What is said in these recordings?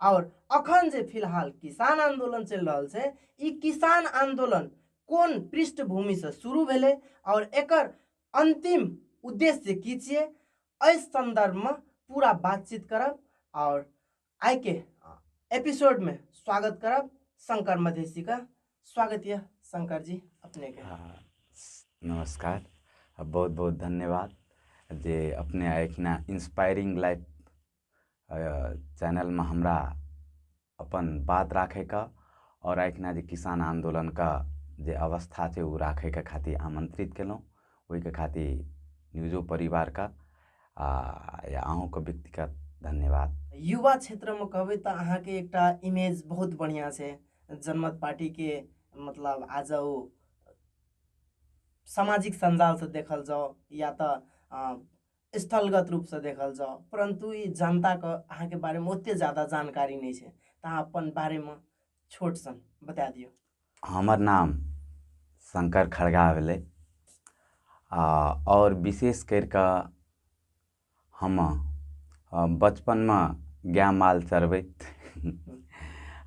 आओर अखन जे फिलहाल किसान आंदोलन चलि रहल छै ई किसान आंदोलन कोन पृष्ठभूमिसँ शुरू भेलै आओर एकर अंतिम उद्देश्य की छियै एहि संदर्भमे पूरा बातचीत करब आओर आइके एपिसोडमे स्वागत करब शंकर मधेशीके स्वागत यऽ शंकर जी अपनेके नमस्कार बहुत बहुत धन्यवाद जे अपने एखना इंस्पायरिंग लाइफ चैनलमे हमरा अपन बात राखैके आओर एहिठिना जे किसान आंदोलनके जे अवस्था छै ओ राखैके खातिर आमंत्रित केलहुॅं ओहिके खातिर न्यूजो परिवारके आ अहूँके व्यक्तिगत धन्यवाद युवा क्षेत्रमे कहबै तऽ अहाँके एकटा इमेज बहुत बढ़िआँ छै जनमत पार्टीके मतलब आज ओ सामाजिक सञ्जालसँ देखल जाउ या तऽ स्थलगत रूपसँ देखल जाउ परन्तु ई जनताके अहाँके बारेमे ओतेक जादा जानकारी नहि छै तऽ अहाँ अपन बारेमे छोट सन बता दियौ हमर नाम शङ्कर खड़गा भेलै आ आओर विशेष करि कऽ हम अ, बचपनमे गाय माल चरबैत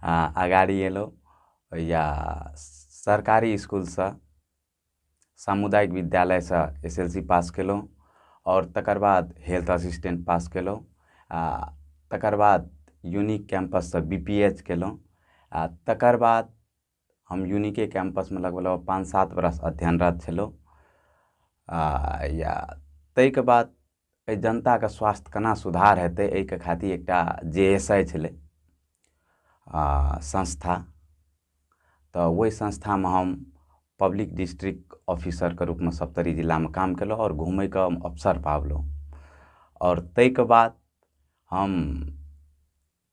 आ, अगाड़ी एलहुँ या सरकारी इसकुलसँ सामुदायिक विद्यालयसँ एस एल सी पास कयलहुँ आओर तकर बाद हेल्थ असिस्टेंट पास कयलहुँ आ तकर बाद यूनिक कैम्पससँ बी पी एच कयलहुँ आ तकर बाद हम यूनिके कैम्पसमे लगभग लगभग पाँच सात बरस अध्ययनरत छलहुँ आ या ताहिके बाद एहि जनताके स्वास्थ केना सुधार हेतै एहिके खातिर एकटा जे एस आइ छलै आ संस्था तऽ ओहि संस्थामे हम पब्लिक डिस्ट्रिक्ट ऑफिसरके रूपमे सप्तरी जिलामे काम केलहुँ आओर घुमैके हम अवसर पाबलहुँ आओर ताहिके बाद हम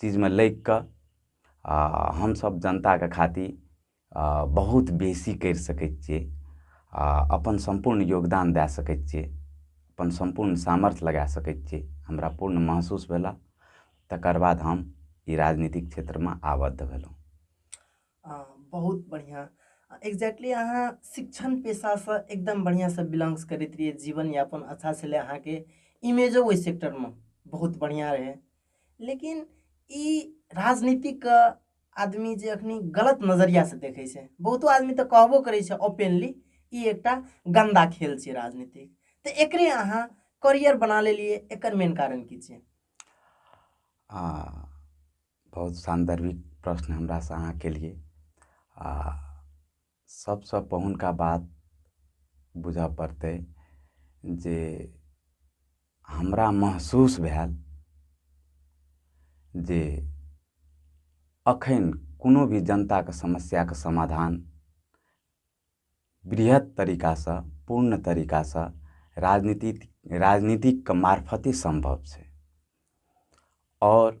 चीजमे लागि कऽ आ हमसब जनताके खातिर आ बहुत बेसी करि सकै छियै आ अपन सम्पूर्ण योगदान दए सकै छियै अपन सम्पूर्ण सामर्थ लगा सकै छियै हमरा पूर्ण महसूस भेल तकर बाद हम ई राजनीतिक क्षेत्रमे आबद्ध भेलहुॅं आ, बहुत बढ़िया एक्जैक्टली अहाँ शिक्षण पेशासँ एकदम बढ़िआँसँ बिलोंग्स करैत रहियै जीवन यापन अच्छा छलै अहाँके इमेजो ओहि सेक्टरमे बहुत बढ़िआँ रहै लेकिन ई राजनीतिक आदमी जे अखनी गलत नजरिया से देखे छै बहुतो आदमी तऽ कहबो करै छै ओपेनली ई एकटा गंदा खेल छै राजनीतिक तऽ एकरे अहाँ करियर बना लेलिए एकर मेन कारण की छै आ बहुत सान्दर्भिक प्रश्न हमरासँ अहाँ केलिए आ सबसँ पहुनका बात बुझऽ पड़तै जे हमरा महसूस भेल जे अखन कोनो भी जनताके समस्याके समाधान वृहत तरीकासँ पूर्ण तरीकासँ राजनीति राजनीतिकके मार्फते सम्भव छै आओर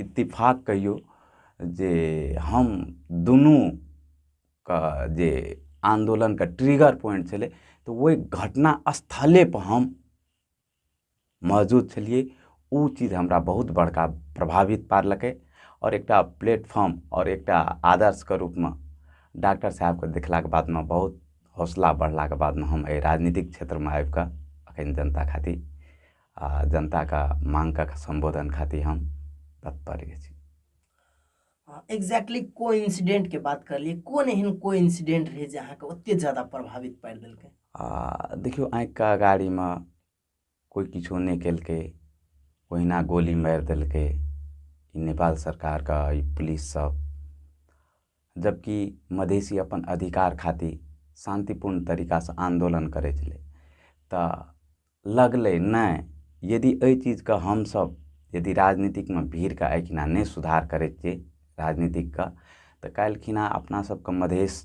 इत्तिफाक कहियौ जे हम दुनू कऽ जे आन्दोलनके ट्रिगर पॉइन्ट छलै तऽ ओहि घटना स्थले पर हम मौजूद छलियै ओ चीज हमरा बहुत बड़का प्रभावित पारलकै आओर एकटा प्लेटफार्म आओर एकटा आदर्शके रूपमे डाक्टर साहेबके देखलाके बादमे बहुत हौसला बढ़लाके बादमे हम एहि राजनीतिक क्षेत्रमे आबि कऽ एखन जनता खातिर आ जनता का मांग का संबोधन खातिर हम तत्पर छी एग्जैक्टली को इंसिडेंट के बात कर लिए कौन एहन को इंसिडेंट रहे जे अहाँके ओते ज्यादा प्रभावित पारि देलकै आ देखियौ आँखिके अगाड़ीमे कोइ किछो नहि केलकै ओहिना गोली मारि देलकै ई नेपाल सरकारके ई पुलिस सब जबकि मधेसी अपन अधिकार खातिर शान्तिपूर्ण तरीकासँ आन्दोलन करै छलै तऽ लगलै नहि यदि एहि चीजके हमसभ यदि राजनीतिकमे भीड़के एहिठिना नहि सुधार करै छियै राजनीतिकके तऽ काल्हि खिना अपना सभके मधेश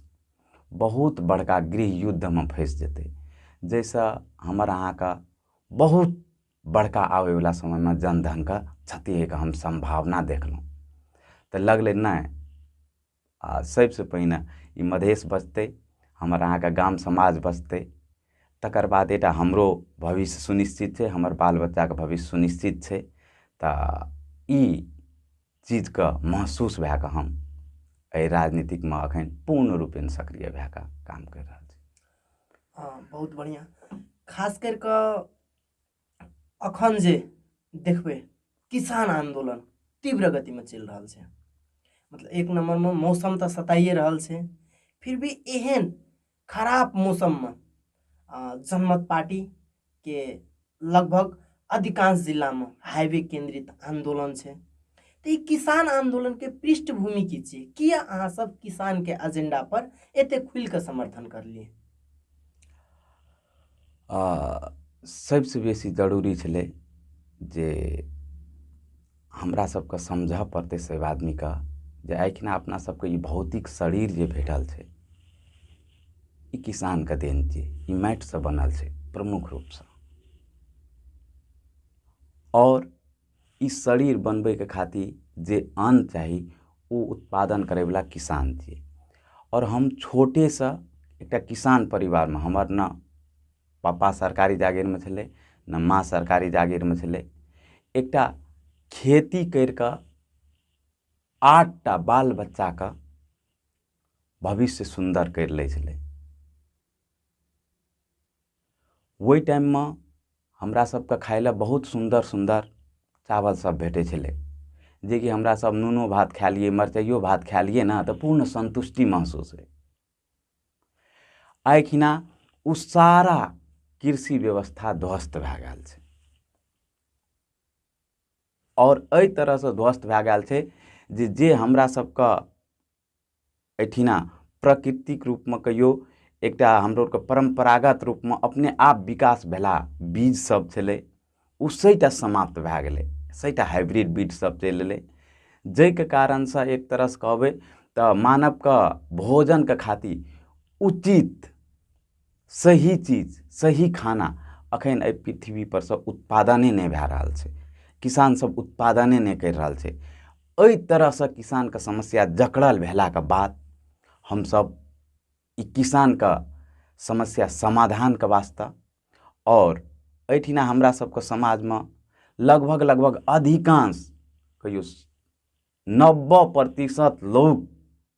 बहुत बड़का गृह युद्धमे फैस जेतै जाहिसँ हमर अहाँके बहुत बड़का आबै बला समयमे जन धनके क्षति होइके हम सम्भावना देखलहुॅं तऽ लगलै नहि आ सबसे पहिने ई मधेश बचतै हमर अहाँके गाम समाज बचतै तकर बाद एकटा हमरो भविष्य सुनिश्चित छै हमर बाल बच्चाके भविष्य सुनिश्चित छै तऽ ई चीजके महसूस भए कऽ हम एहि राजनीतिकमे अखन पूर्ण रूपेण सक्रिय भए कऽ काम करि रहल छी हँ बहुत बढ़िआँ खास करि कऽ अखन जे देखबै किसान आंदोलन तीव्र गतिमे चलि रहल छै मतलब एक नंबरमे मौसम तऽ सताइए रहल छै फिर भी एहन खराब मौसममे जनमत पार्टीके लगभग अधिकांश जिलामे हाईवे केंद्रित आंदोलन छै तऽ ई किसान आंदोलनके पृष्ठभूमि की छियै किया अहाँ सब किसानके एजेंडा पर एते खुलि कऽ समर्थन करलियै आ सभसँ बेसी जरूरी छलै जे हमरा सभके समझऽ पड़तै सभ आदमीके जे आइखिना अपना सभके ई भौतिक शरीर जे भेटल छै ई किसानके देन छी ई माटिसँ बनल छै प्रमुख रूपसँ आओर ई शरीर बनबैके खातिर जे अन्न चाही ओ उत्पादन करै बला किसान छियै आओर हम छोटे सऽ एकटा किसान परिवारमे हमर ने पापा सरकारी जागीरमे छलै ने माँ सरकारी जागीरमे छलै एकटा खेती कैरि कऽ आठ टा बाल बच्चाके भबिष्य सुन्दर कैरि लै छलै ओहि टाइममे हमरा सबके खाय लए बहुत सुन्दर सुन्दर चावल सब भेटै छलै जेकि हमरा सब नूनो भात खाय लियै मरचाइयो भात खाय लियै ने तऽ पूर्ण सन्तुष्टि महसूस होइ आइखिना ओ सारा कृषि व्यवस्था ध्वस्त भए गेल छै आओर एहि तरहसँ ध्वस्त भए गेल छै जे जे हमरा सबके एहिठिना प्रकृतिक रूपमे कहियो एकटा हमरो आरके परम्परागत रूपमे अपने आप विकास भेला बीज सब छलै ओ सहिटा समाप्त भए गेलै सहिटा हाइब्रिड बीज सब चलि एलै जाहिके कारणसँ एक तरहसँ कहबै तऽ मानवके भोजनके खातिर उचित सही चीज सही खाना अखन एहि पृथ्वी पर से उत्पादने नहि भए रहल छै किसान सब उत्पादने नहि करि रहल छै एहि तरह से किसान के समस्या जकड़ल भेला के बाद हमसब ई किसान के समस्या समाधान के वास्ते आओर एहिठिना हमरा सबके समाज मे लगभग लगभग अधिकांश कहियौ नब्बे प्रतिशत लोग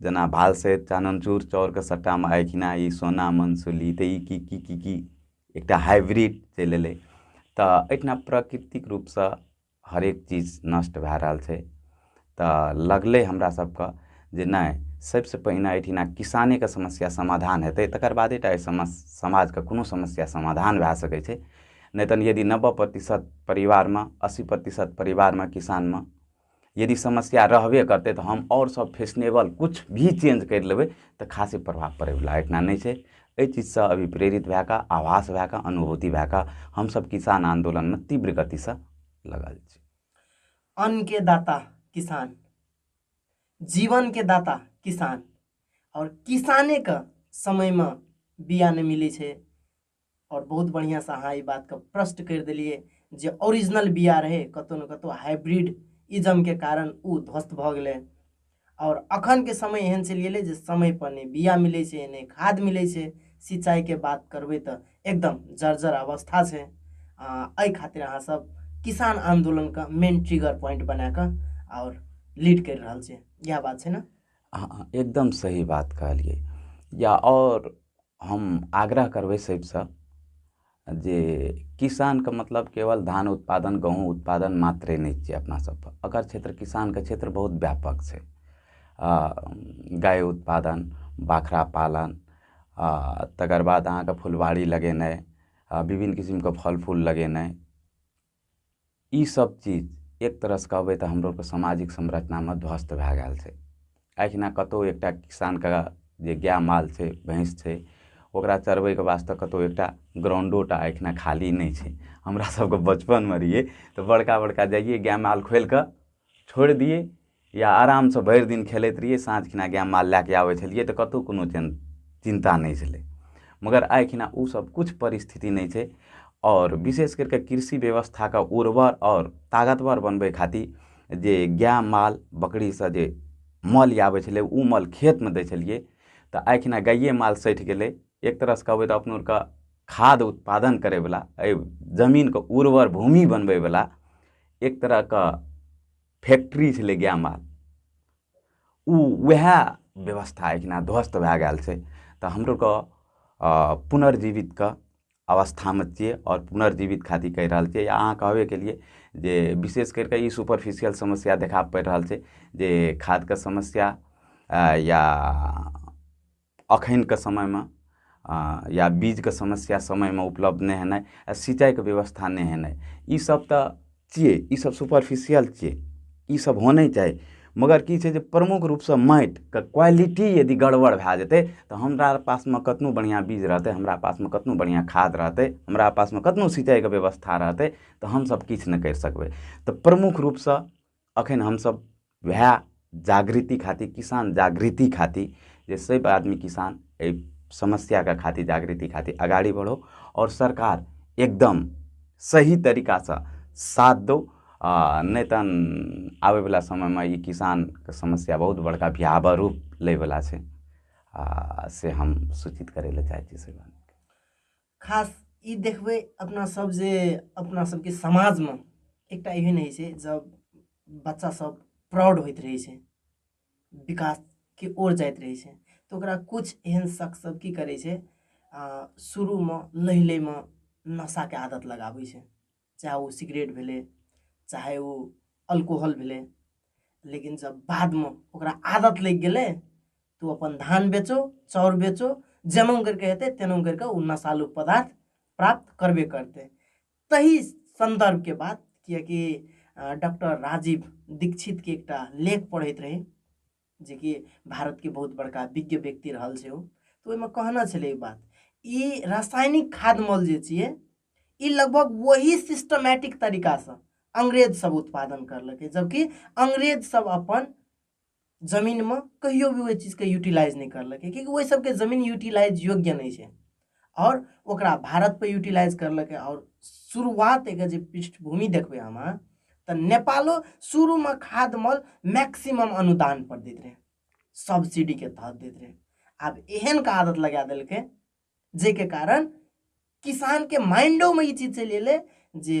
जेना भाल सहित चानन चूर चाउरके सट्टामे आँखिना ई सोना मनसुली तऽ ई की की की की एकटा हाइब्रिड चलि अयलै तऽ एहिठिना प्रकृतिक रूपसँ हरेक चीज नष्ट भए रहल छै तऽ लगलै हमरा सबके जे नहि सबसे पहिने एहिठिना किसानेके समस्या समाधान हेतै तकर बादे टा एहि समस समाजके कोनो समस्या समाधान भए सकै छै नहि तऽ यदि नब्बे प्रतिशत परिवारमे अस्सी प्रतिशत परिवारमे किसानमे यदि समस्या रहबे करतै तऽ हम आओर सब फैशनेबल किछु भी चेंज करि लेबै तऽ खासे प्रभाव पड़ैवला एहिठिना नहि छै एहि चीजसँ अभी प्रेरित भए कऽ आभास भए कऽ अनुभूति भए कऽ हमसब किसान आन्दोलनमे तीव्र गतिसँ लगल छी अन्न के दाता किसान जीवन के दाता किसान आओर किसाने के समयमे बिया नहि मिलै छै और बहुत बढ़िया से अहाँ ई बात के प्रश्न कर दिलिए जे ओरिजिनल बिया रहे कतो न कतो हाइब्रिड इजम के कारण उ ध्वस्त भ गेले और अखन के समय एहन चलि गेले जे समय पर नहीं बिया मिले छे नहीं खाद मिले छे सिंचाई के बात करबे त एकदम जर्जर अवस्था छे अ खातिर अहाँ सब किसान आंदोलन का मेन ट्रिगर पॉइंट बना के और लीड कर रहल छे यह बात छे ना अहाँ एकदम सही बात कहलियै या आओर हम आग्रह करबै सभसँ जे किसानके मतलब केवल धान उत्पादन गहूॅंम उत्पादन मात्रे नहि छियै अपना सभके एकर क्षेत्र किसानके क्षेत्र बहुत व्यापक छै आ गाय उत्पादन बाख्रा पालन आ तेकर बाद अहाँके फुलवारी लगेनाइ आ बिभिन्न किसिमके फल फूल लगेनाइ ई सब चीज एक तरह सऽ कहबै तऽ हमरो सबके समाजिक संरचनामे ध्वस्त भए गेल छै एहिना कतौ एकटा किसानके जे गाय माल छै भैंस छै ओकरा चरबैके वास्ते कतौ एकटा ग्राउंडो टा एहिठिना खाली नहि छै हमरा सबके बचपनमे रहियै तऽ बड़का बड़का जाइयै गाय माल खोलि कऽ छोड़ि दियै या आरामसँ भरि दिन खेलैत रहियै साँझ खिना गाय माल लए कऽ आबै छलियै तऽ कतहु कोनो टेन चिन्ता नहि छलै मगर आइ खिना ओ सब किछु परिस्थिति नहि छै आओर विशेष करि कऽ कृषि व्यवस्थाके उर्वर आओर तागतवर बनबै खातिर जे गाय माल बकरी सब जे मल आबै छलै ओ मल खेतमे दै छलियै तऽ आइ खिना गाये माल सठि गेलै एक तरह सँ कहबै तऽ अपनो आरके खाद उत्पादन करै बला एहि जमीनके उर्वर भूमि बनबै बला एक तरहके फैक्ट्री छलै गाय माल ओ वएह व्यवस्था एहिना ध्वस्त भए गेल छै तऽ हमरो कऽ पुनर्जीवित कऽ अवस्थामे छियै आओर पुनर्जीवित खातिर कहि रहल छियै अहाँ कहबे केलियै जे विशेष करि कऽ ई सुपरफिशियल समस्या देखा पड़ि रहल छै जे खादके समस्या या अखनके समयमे या बीजके समस्या समयमे उपलब्ध नहि हेनाइ आ सिंचाइके व्यवस्था नहि हेनाइ ई सब तऽ छियै ई सब सुपरफिशियल छियै ई सब होने चाही मगर की छै जे प्रमुख रूपसँ माटिके क्वालिटी यदि गड़बड़ भए जेतै तऽ हमरा आर पासमे कतनो बढ़िऑं बीज रहतै हमरा पासमे कतनो बढ़िऑं खाद रहतै हमरा पासमे कतनो सिंचाइके व्यवस्था रहतै तऽ हमसब किछु नहि करि सकबै तऽ प्रमुख रूपसँ अखन हमसब वएह जागृति खातिर किसान जागृति खातिर जे सब आदमी किसान एहि समस्याके खातिर जागृति खातिर अगाड़ी बढ़ो आओर सरकार एकदम सही तरीका सऽ साथ दो आ नहि तहन आबै बला समयमे ई किसानके समस्या बहुत बड़का भयावह रूप लै बला छै आ से हम सूचित करै लए चाहै छी सरकार के खास ई देखबै अपना सब जे अपना सबके समाजमे एकटा एहन होइ छै जब बच्चा सब प्राउड होइत रहै छै विकासके ओर जाइत रहै छै तऽ ओकरा किछु एहन शख्स सब की करै छै शुरूमे लैलैमे नशाके आदत लगाबै छै चाहे ओ सिगरेट भेलै चाहे ओ अल्कोहल भेलै लेकिन जब बादमे ओकरा आदत लागि गेलै तऽ ओ अपन धान बेचो चाउर बेचो जेना करिके हेतै तेना करिके ओ नशालु पदार्थ प्राप्त करबे करतै तही सन्दर्भके बात किएकि डॉक्टर राजीव दीक्षितके एकटा लेख पढ़ैत रही जेकि भारतके बहुत बड़का विज्ञ व्यक्ति रहल छै ओ तऽ ओहिमे कहना छलै ई बात ई रासायनिक खाद मल जे छियै ई लगभग वही सिस्टमेटिक तरीकासँ अंग्रेज सब उत्पादन करलकै जबकि अंग्रेज सब अपन जमीनमे कहियो भी ओहि चीजके यूटिलाइज नहि करलकै किएकि ओहि सबके जमीन यूटिलाइज योग्य नहि छै आओर ओकरा भारतपर यूटिलाइज करलकै आओर शुरुआत एकर जे पृष्ठभूमि देखबै अहाँ तऽ नेपालो शुरूमे खाद मल मैक्सिमम अनुदान पर दैत रहै सब्सिडीके तहत दैत रहै आब एहन का आदत लगा देलकै जाहिके कारण किसानके माइंडोमे ई चीज चलि एलै जे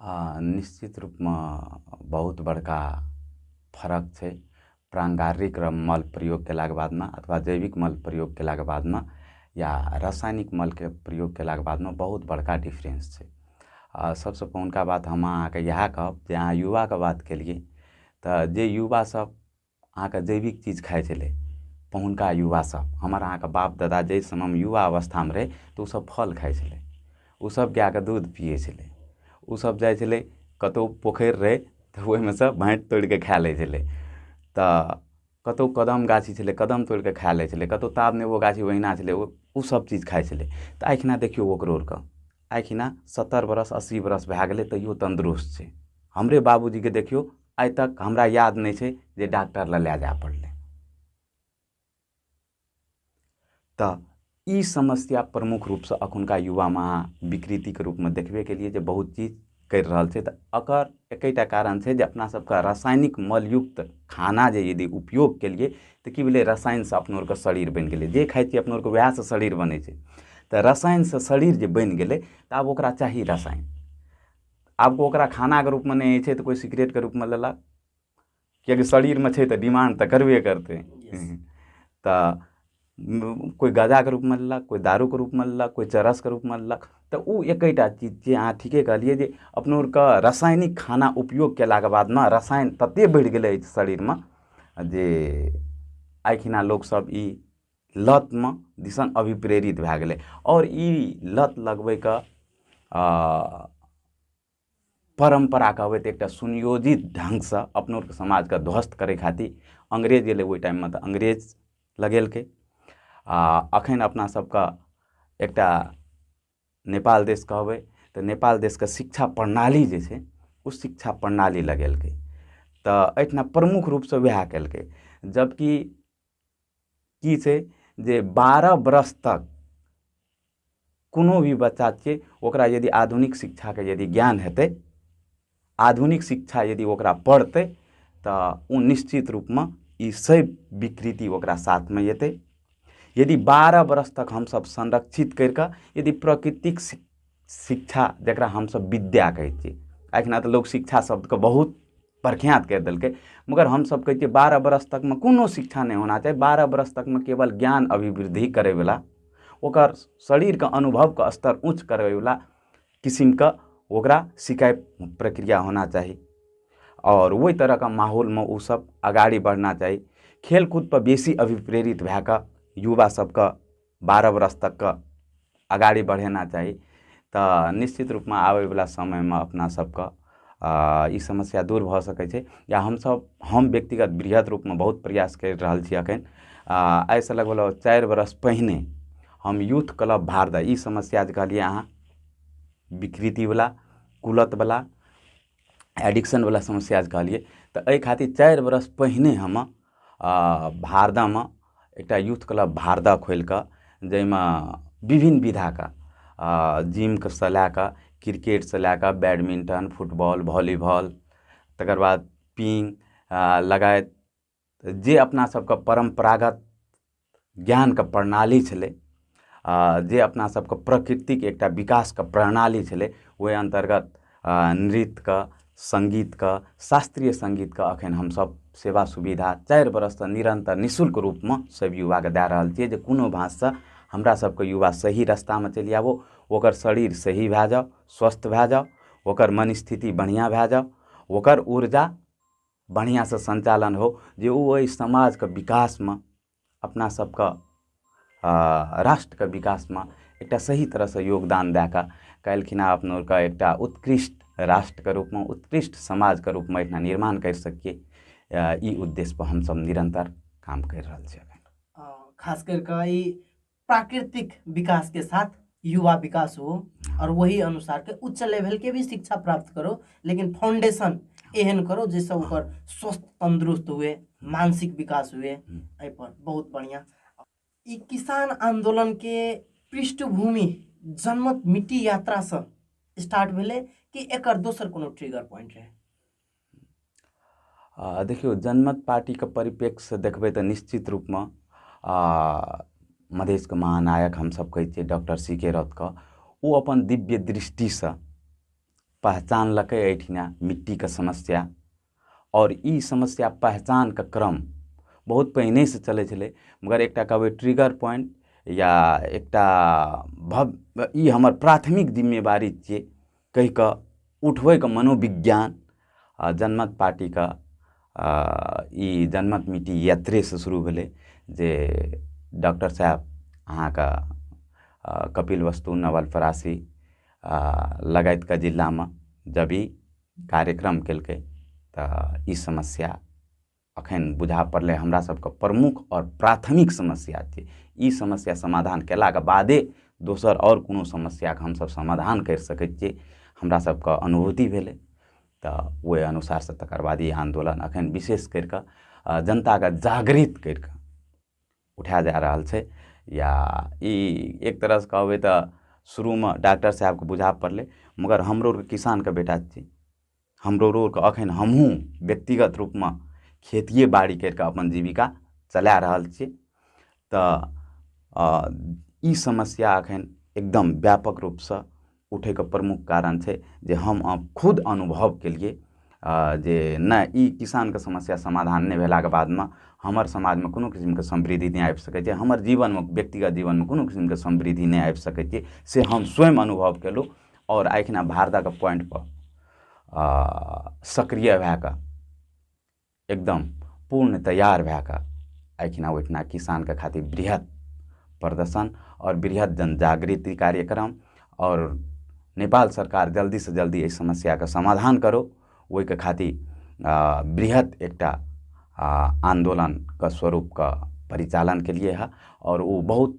आ निश्चित रूपमे बहुत बड़का फरक छै प्राङ्गारिक र मल प्रयोग कयलाके बादमे अथवा जैविक मल प्रयोग कयलाके बादमे या रसायनिक मलके प्रयोग कयलाके बादमे बहुत बड़का डिफरेन्स छै आ सभसँ पहिलुका बात हम अहाँकेँ इएह कहब जे अहाँ युवाके बात केलियै तऽ जे युवासभ अहाँके जैविक चीज खाइ छलै पहिलुका युवा सब हमर अहाँके बाप दादा जाहि समयमे युवा अवस्थामे रहै तऽ ओ सब फल खाइ छलै ओ सब गायके दूध पीयै छलै ओ सब जाइ छलै कतौ पोखरि रहै तऽ ओहिमे सँ भाटि तोड़िके खा लै छलै तऽ कतौ कदम गाछी छलै कदम तोड़िके खा लै छलै कतौ तार नेबो गाछी ओहिना छलै ओ सब चीज खाइ छलै तऽ आइ खिना देखियौ ओकरो आरके आइ खिना सत्तरि बरस अस्सी बरस भए गेलै तैयो तन्दुरुस्त छै हमरे बाबूजीके देखियौ आइ तक हमरा याद नहि छै जे डॉक्टर लग लए जाय पड़लै तऽ ई समस्या प्रमुख रूपसँ अखुनका युवामे अहाँ विकृतिके रूपमे देखबे केलियै जे बहुत चीज करि रहल छै तऽ एकर एकेटा कारण छै जे अपना सबके रासायनिक मलयुक्त खाना जे यदि उपयोग केलियै तऽ की भेलै रसायनसँ अपनो आरके शरीर बनि गेलै जे खाइ छियै अपनो आरके वएहसँ शरीर बनै छै तऽ रसायनसँ शरीर जे बनि गेलै तऽ आब ओकरा चाही रसायन आब कोइ ओकरा खानाके रूपमे नहि होइ छै तऽ कोइ सिगरेटके रूपमे लेलक किएकि शरीरमे छै तऽ डिमाण्ड तऽ करबे करतै तऽ कोइ गजाके रूपमे लेलक कोइ दारूके रूपमे लेलक कोइ चरसके रूपमे लेलक तऽ ओ एकेटा चीज जे अहाँ ठीके कहलियै जे अपना आरके रासायनिक खाना उपयोग कयलाके बाद ने रसायन ततेक बढ़ि गेलै शरीरमे जे आइ खिना लोकसभ ई लतमे दिसन अभिप्रेरित भए गेलै आओर ई लत लगबैके परम्परा कहबै तऽ एकटा सुनियोजित ढङ्गसँ अपनो आरके समाजके ध्वस्त करै खातिर अंग्रेज एलै ओहि टाइममे तऽ अंग्रेज लगेलकै आ अखन अपना सबके एकटा नेपाल देश कहबै तऽ नेपाल देशके शिक्षा प्रणाली जे छै ओ शिक्षा प्रणाली लगेलकै तऽ एहिठिना प्रमुख रूपसँ वएह केलकै जबकि की छै जे बारह बरस तक कोनो भी बच्चा छै ओकरा यदि आधुनिक शिक्षाके यदि ज्ञान हेतै आधुनिक शिक्षा यदि ओकरा पढ़तै तऽ ओ निश्चित रूपमे ई सैव विकृति ओकरा साथमे एतै यदि बारह बरस तक हमसभ संरक्षित करि कऽ यदि प्रकृतिक शिक्षा जकरा हमसभ विद्या कहै छियै आइ काल्हिमे तऽ लोक शिक्षा शब्दके बहुत प्रख्यात करि देलकै मगर हमसभ कहै छियै बारह बरस तकमे कोनो शिक्षा नहि होना चाही बारह बरस तकमे केवल ज्ञान अभिवृद्धि करयवला ओकर शरीरके अनुभवके स्तर ऊँच करयवला किसिमके ओकरा सिकाइ प्रक्रिया होना चाही आओर ओहि तरहके माहौलमे ओसभ अगाड़ी बढ़ना चाही खेलकूदपर बेसी अभिप्रेरित भए कऽ युवा सभके बारह बरस तक अगाडि बढेना चाही तऽ निश्चित रूपमे आबै बला समयमे अपना सबके ई समस्या दूर भऽ सकै छै या हमसब हम व्यक्तिगत बृहत रूपमे बहुत प्रयास करि रहल छी अखन आ आइ सऽ लगभग लगभग चारि बरस पहिने हम यूथ क्लब भारदह ई समस्या जे कहलियै अहाँ विकृति बला कुलत बला एडिक्शन बला समस्या जे कहलियै तऽ एहि खातिर चारि बरस पहिने हम भारदामे एकटा यूथ क्लब भारदा खोलि कऽ जाहिमे विभिन्न विधाके जिमके सँ लए कऽ क्रिकेट सँ लए कऽ बैडमिंटन फुटबॉल वॉलीबॉल तकर बाद पिन लगायत तऽ जे अपना सबके परम्परागत ज्ञानके प्रणाली छलै आ जे अपना सबके प्रकृतिक एकटा विकासके प्रणाली छलै ओहि अन्तर्गत नृत्यके सङ्गीतके शास्त्रीय सङ्गीतके अखन हमसब सेवा सुविधा चारि बरससँ निरन्तर निःशुल्क रूपमे सब युवाके दए रहल छियै जे कोनो भाँजसँ हमरा सबके युवा सही रस्तामे चलि आबो ओकर शरीर सही भए जाउ स्वस्थ भए जाउ ओकर मन स्थिति बढ़िऑं भए जाउ ओकर ऊर्जा बढ़िआँसँ सञ्चालन हो जे ओ अइ समाजके विकासमे अपना सबके राष्ट्रके विकासमे एकटा सही तरहसँ योगदान दए कऽ काल्हिखिन अपना आरके एकटा उत्कृष्ट राष्ट्रके रूपमे उत्कृष्ट समाजके रूपमे एकटा निर्माण करि सकी ई उद्देश्यपर हमसब निरन्तर काम करि रहल छी खास करिकऽ ई प्राकृतिक विकास के साथ युवा विकास हो और वही अनुसार के उच्च लेवल के भी शिक्षा प्राप्त करो लेकिन फाउंडेशन एहन करो जैसे ओकर स्वस्थ तंदुरुस्त हुए मानसिक विकास हुए हम्म। एहि पर बहुत बढ़िया ई किसान आंदोलन के पृष्ठभूमि जनमत मिट्टी यात्रा से स्टार्ट भेले कि एकर दोसर कोनो ट्रिगर पॉइंट रहे आ देखियौ जनमत पार्टीके परिप्रेक्ष्यसँ देखबै तऽ निश्चित रूपमे आ मधेशके महानायक हमसभ कहै छियै डॉक्टर सी के रौतके ओ अपन दिव्य दृष्टिसँ पहचानलकै एहिठिना मिट्टीके समस्या आओर ई समस्या पहचानके क्रम बहुत पहिनेसँ चलै छलै मगर एकटा कहबै ट्रिगर पॉइंट या एकटा भव ई हमर प्राथमिक जिम्मेवारी छियै कहि कऽ उठबैके मनोविज्ञान आ जनमत पार्टीके आ ई जनमत मिट्टी यात्रे से शुरू भेलै जे डॉक्टर साहेब अहाँके कपिल वस्तु नवल परासी आ लगायतके जिलामे जब ई कार्यक्रम केलकै तऽ ई समस्या अखन बुझा पड़लै हमरा सबके प्रमुख आओर प्राथमिक समस्या छै ई समस्या समाधान कयलाके बादे दोसर आओर कोनो समस्याके हमसब समाधान करि सकै छियै हमरा सबके अनुभूति भेलै तऽ ओहि अनुसार से तकर बाद ई आन्दोलन अखन बिशेष करि कऽ जनताके जागृत करि कऽ उठायल जा रहल छै या ई एक तरह से कहबै तऽ शुरूमे डाक्टर साहेबके बुझा पड़लै मगर हमरो आरके किसानके बेटा छी हमरो रोग अखन हमहूँ व्यक्तिगत रूपमे खेतिए बाड़ी करि कऽ अपन जीविका चला रहल छी तऽ ई समस्या अखन एकदम व्यापक रूपसँ उठैके प्रमुख कारण छै जे हम खुद अनुभव केलियै जे नहि ई किसानके समस्या समाधान नहि भेलाके बादमे हमर समाजमे कोनो किसिमके समृद्धि नहि आबि सकै छै हमर जीवनमे व्यक्तिगत जीवनमे कोनो किसिमके समृद्धि नहि आबि सकै छै से हम स्वयं अनुभव केलहुँ आओर एखिना भारतक पॉइंटपर सक्रिय भए कऽ एकदम पूर्ण तैयार भए कऽ एखिना ओहिठिना किसानके खातिर बृहत प्रदर्शन आओर बृहत जन जागृति कार्यक्रम आओर नेपाल सरकार जल्दी सँ जल्दी एहि समस्याके समाधान करो ओहिके खातिर बृहत एकटा आन्दोलनके स्वरूपके परिचालन केलियै हँ आओर ओ बहुत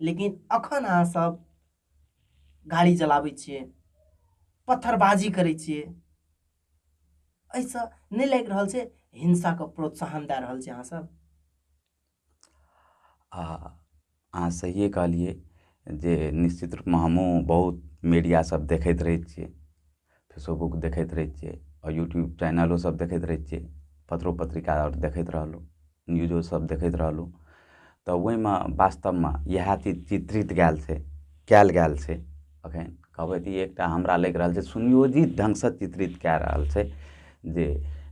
लेकिन अखन अहाँ सब गाड़ी चलाबै छियै पत्थरबाजी करै छियै एहिसँ नहि लागि रहल छै हिंसाके प्रोत्साहन दए रहल छै अहाँसभ आ अहाँ सहिए कहलियै जे निश्चित रूपमे हमहूँ बहुत मीडियासभ देखैत रहै छियै फेसोबुक देखैत रहै छियै आओर यूट्यूब चैनलो सब देखैत रहै छियै पत्रो पत्रिका आओर देखैत रहलहुँ न्यूजो सब देखैत रहलहुँ तऽ ओहिमे बास्तबमे इएह चीज चित्रित कयल छै कयल गेल छै अखन कहबै तऽ ई एकटा हमरा लागि रहल छै सुनियोजित ढङ्ग सऽ चित्रित कए रहल छै जे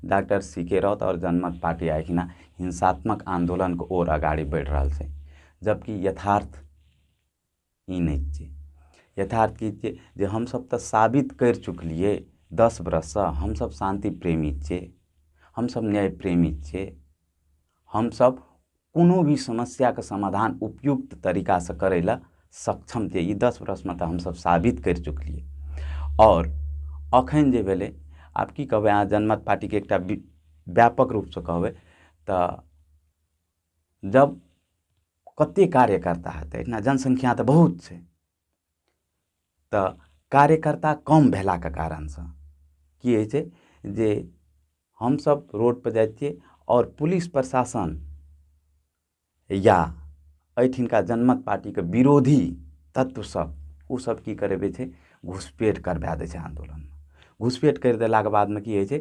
डाक्टर सी के राउत आओर जनमत पार्टी आइ हीना हिंसात्मक आन्दोलनके ओर अगाड़ी बढ़ि रहल छै जबकि यथार्थ ई नहि छै यथार्थ की छै जे हमसब तऽ साबित करि चुकलियै दस बरससँ हमसब शान्ति प्रेमी छियै हमसब न्याय प्रेमी छियै हमसब कोनो भी समस्याके समाधान उपयुक्त तरीकासँ करय लए सक्षम छियै ई दस बरसमे तऽ हमसब साबित करि चुकलियै आओर अखन जे भेलय आब की कहबय अहाँ जनमत पार्टीके एकटा व्यापक रूपसँ कहबय तऽ जब कते कार्यकर्ता हेतै एहिठिना जनसंख्या तऽ बहुत छै तऽ कार्यकर्ता कम भेलाके कारणसँ की होइ छै जे हमसब रोड पर जाइ छियै आओर पुलिस प्रशासन या एहिठिनका जनमत पार्टीके विरोधी तत्व सब ओ सब की करबै छै घुसपैठ करबा दै छै आंदोलनमे घुसपैठ करि देलाके बादमे की होइ छै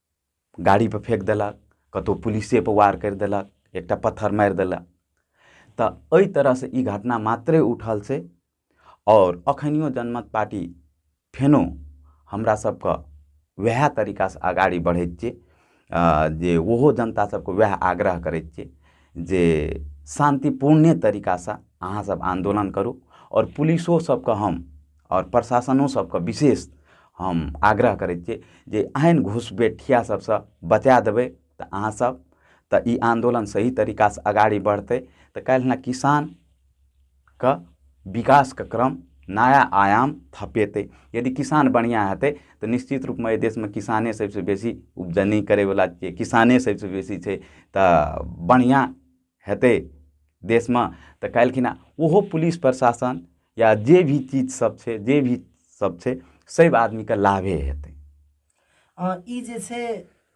गाड़ी पर फेक देलक कतौ पुलिसे पर वार करि देलक एकटा पत्थर मारि देलक तऽ ओहि तरहसँ ई घटना मात्रे उठल छै आओर अखनियो जनमत पार्टी फेनो हमरा सबके वएह तरीकासँ अगाड़ी बढ़ैत छै जे ओहो जनता सबके वएह आग्रह करै छियै जे शान्तिपूर्णे तरीकासँ अहाँ सब आन्दोलन करू आओर पुलिसो सबके हम आओर प्रशासनो सबके विशेष हम आग्रह करै छियै जे एहन घुसपैठिया सबसँ बचा देबै तऽ अहाँ सब तऽ ई आन्दोलन सही तरीकासँ अगाड़ी बढ़तै तऽ काल्हिखना किसान कऽ विकासके क्रम नया आयाम थपेतै यदि किसान बढ़िऑं हेतै तऽ निश्चित रूपमे एहि देशमे किसाने सबसे बेसी उपजनी करै बला छियै किसाने सबसे बेसी छै तऽ बढ़िऑं हेतै देशमे तऽ काल्हिखिन ओहो पुलिस प्रशासन या जे भी चीज सब छै जे भी सब छै सब आदमीके लाभे हेतै ई जे छै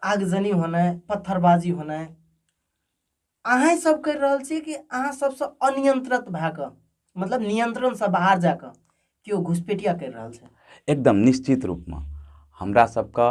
आगजनी होनाइ पत्थरबाजी होनाइ अहाँ सब करि रहल छी कि अहाँ सबसँ अनियंत्रित भए कऽ मतलब नियंत्रणसँ बाहर जा कऽ केओ घुसपेटिया करि रहल छै एकदम निश्चित रूपमे हमरा सबके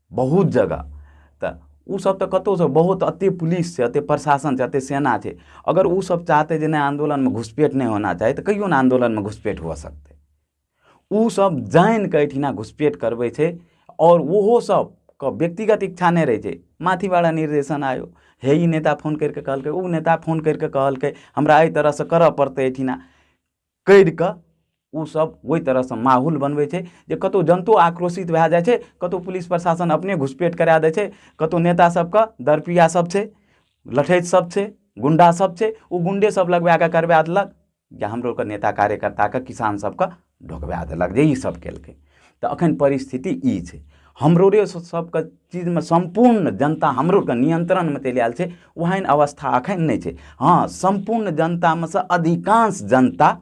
बहुत जगह तऽ ओ सब तऽ कतौ सँ बहुत अते पुलिस छै अते प्रशासन छै अते सेना छै अगर ओ सब चाहतै जे नहि आन्दोलनमे घुसपैठ नहि होना चाही तऽ कहियौ ने आन्दोलनमे घुसपैठ हुअ सकतै ओ सब जानि कऽ एहिठिना घुसपैठ करबै छै आओर ओहो सब के व्यक्तिगत इच्छा नहि रहै छै माथि बला निर्देशन आयो हे ई नेता फोन करि कऽ कहलकै ओ नेता फोन करि कऽ कहलकै हमरा एहि तरहसँ करऽ पड़तै एहिठिना करि कऽ ओसभ ओहि तरहसँ माहौल बनबै छै जे कतहु जनतो आक्रोशित भए जाइ छै कतहु पुलिस प्रशासन अपने घुसपैठ करा दै छै कतहु नेता सभके दरपिया सभ छै लठैत सभ छै गुण्डा सभ छै ओ गुण्डे सभ लगबए कऽ करबए देलक जे हमरो नेता कार्यकर्ताके किसान सभके ढुकबए देलक जे ई सभ केलकै तऽ एखन परिस्थिति ई छै हम रोडे सबके चीजमे सम्पूर्ण जनता हमरो आरके नियन्त्रणमे चलि आयल छै ओहन अवस्था एखन नहि छै हँ सम्पूर्ण जनतामे सँ अधिकांश जनता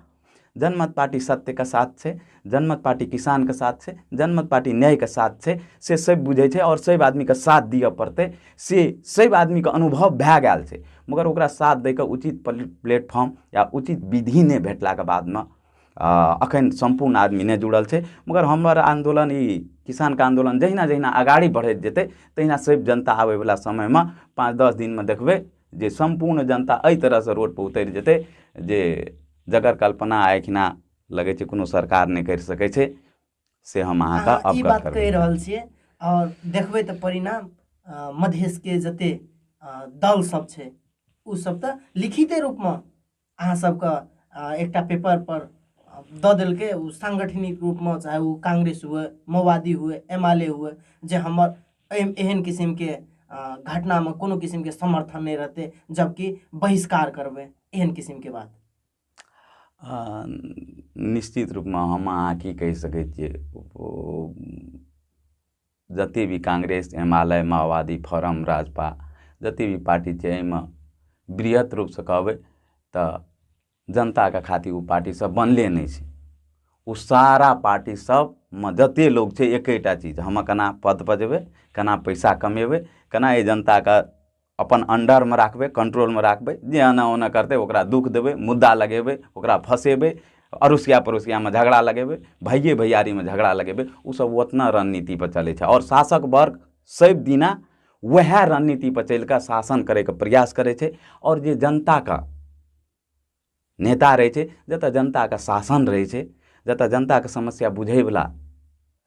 जनमत पार्टी सत्यके साथ छै जनमत पार्टी किसानके साथ छै जनमत पार्टी न्यायके साथ छै से सब बुझै छै आओर सब आदमीके साथ दिअ पड़तै से सब आदमीके अनुभव भए गेल छै मगर ओकरा साथ दैके उचित प्लेटफॉर्म या उचित विधि नहि भेटलाके बादमे एखन सम्पूर्ण आदमी नहि जुड़ल छै मगर हमर आन्दोलन ई किसानके आन्दोलन जहिना जहिना अगाड़ी बढ़ैत जेतै तहिना सैब जनता आबैवला समयमे पाँच दस दिनमे देखबै जे सम्पूर्ण जनता एहि तरहसँ रोडपर उतरि जेतै जे जकर कल्पना आइ एखना लगै छै कोनो सरकार नहि करि सकै छै से हम अहाँके अहाँ ई अवगत बात कहि करबै रहल छियै आओर देखबै तऽ परिणाम अ, मधेशके जते अ, दल सब छै ओ सब तऽ लिखिते रूपमे अहाँ सबके एकटा पेपर पर दऽ देलकै ओ सांगठनिक रूपमे चाहे ओ कांग्रेस हुए माओवादी हुए एम एल ए हुए जे हमर एहन किसिमके घटनामे कोनो किसिमके समर्थन नहि रहतै जबकि बहिष्कार करबै एहन किसिमके बात निश्चित रूपमे हम अहाँ की कहि सकैत छियै जतेक भी कांग्रेस एम आल आइ माओवादी फोरम राजपा जतेक भी पार्टी छै एहिमे बृहत रूपसँ कहबै तऽ जनताके खातिर ओ पार्टी सब बनले नहि छै ओ सारा पार्टी सबमे जतेक लोग छै एकेटा चीज हम केना पद पर जेबै केना पैसा कमेबै केना एहि जनताके अपन अंडरमे राखबै कंट्रोलमे राखबै जे एना ओना करतै ओकरा दुख देबै मुद्दा लगेबै ओकरा फँसेबै अरुसिया पड़ोसियामे झगड़ा लगेबै भाइए भैयारीमे झगड़ा लगेबै ओसभ ओतना रणनीतिपर चलै छै आओर शासक वर्ग सभ दिना वएह रणनीतिपर चलि कऽ शासन करैके प्रयास करै छै आओर जे जनताके नेता रहै छै जतऽ जनताके शासन रहै छै जतऽ जनताके समस्या बुझै बला